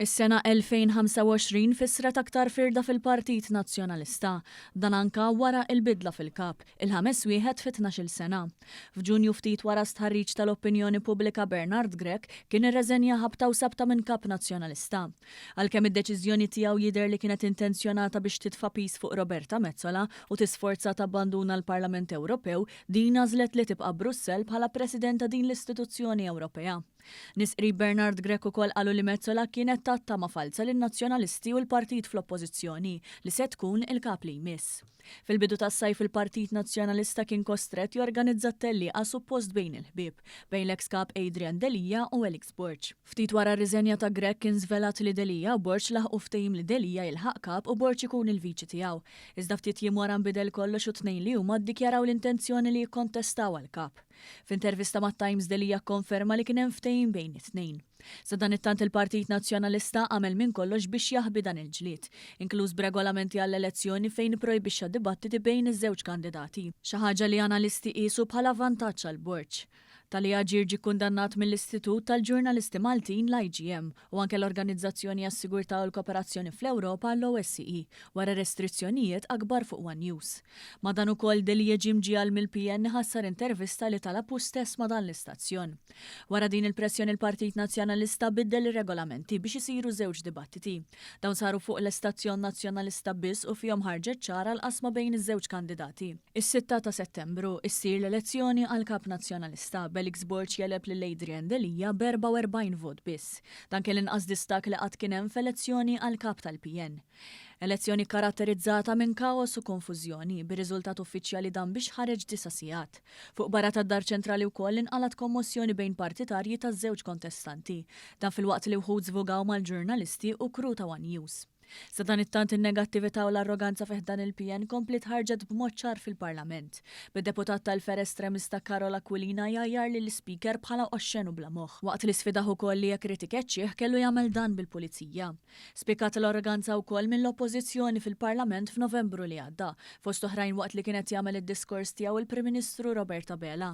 Is-sena 2025 fissret aktar firda fil-Partit Nazzjonalista. Dan anke wara l-bidla fil-Kap, il-ħames wieħed fi tnax-il sena. F'Ġunju ftit wara stħarriġ tal-opinjoni pubblika Bernard Grech kien irreżenja ħabta u sabta minn Kap Nazzjonalista. Għalkemm id-deċiżjoni tiegħu jidher li kienet intenzjonata biex titfa' piż fuq Roberta Metsola u tisforza tabbanduna l-Parlament Ewropew, din għażlet li tibqa' Brussell bħala President ta' din l-istituzzjoni Ewropea. Nies qrib Bernard Grech ukoll qalu li Metsola kienet tat tama falza lin-Nazzjonalisti u l-partit fl-Oppożizzjoni li se tkun il-Kap li jmiss. Fil-bidu tas-sajf il-Partit Nazzjonalista kien kostrett jorganizza tellieqa suppost bejn il-ħbieb, bejn l-eks Kap Adrian Delia u Alex Borg. Ftit wara r-riżenja ta' Grech kien żvelat li Delia u Borg laħqu ftehim li Delia jilħaq Kap u Borg ikun il-viċi tiegħu. Iżda ftit jiem wara nbidel kollox u t-tnejn li huma ddikjaraw l-intenzjoni li jikkontestaw għall-Kap. F'intervista mat-Times Delia kkonferma li kien hemm ftehim bejn it-tnejn. Sadanittant il-Partit Nazzjonalista għamel minn kollox biex jaħbi dan il-ġlied, inkluż b'regolamenti għall-elezzjoni fejn ipprojbixxa dibattiti bejn iż-żewġ kandidati, xi ħaġa li analisti qiesu bħala vantaġġ għall-Borg. Tali aġir ġie kkundannat mill-Istitut tal-Ġurnalisti Maltin, l-IGM, u anke l-Organizzazzjoni għas-Sigurtà u l-Kooperazzjoni fl-Ewropa, l-OSCE, wara restrizzjonijiet akbar fuq one News. Ma' dan ukoll Deljegi mġiegħel mill-PN iħassar intervista li talab hu stess ma' dan l-istazzjon. Wara din il-pressjoni l-Partit Nazzjonalista biddel ir-regolamenti biex isiru żewġ dibattiti. Dawn saru fuq l-istazzjon Nazzjonalista biss u fihom ħarġet ċara l-qasma bejn iż-żewġ kandidati. Is-sitta ta' Settembru ssir l-elezzjoni għal Kap Nazzjonalista, b'Elix Borg jegħleb lil Adrian Delia b'44 vot biss. Dan kien l-inqas distakk li qatt kien hemm f'elezzjoni għal Kap tal-PN. Elezzjoni kkaratterizzata minn kaos u konfużjoni, bir-riżultat uffiċjali dan biex ħareġ disa' sigħat. Fuq barra tad-Dar Ċentrali wkoll inqalgħet kommossjoni bejn partitarji taż-żewġ kontestanti. Dan filwaqt li wħud żvogaw mal-ġurnalisti u crew ta' one News. Sadanittant in-negattività u l-arroganza fi ħdan il-PN kompliet ħarġet b'mod ċar fil-Parlament, bid-deputat tal-Fera Estremista Karol Aquilina jgħajjar lill-Ispeaker bħala oxxen u bla moħħ, waqt li sfidah ukoll li jekk ried ikeċċih kellu jagħmel dan bil-Pulizija. Spikkat l-arroganza wkoll mill-Oppożizzjoni fil-Parlament f'Novembru li għadda, fost oħrajn waqt li kien qed jagħmel id-diskors tiegħu l-Prim Ministru Robert Abela,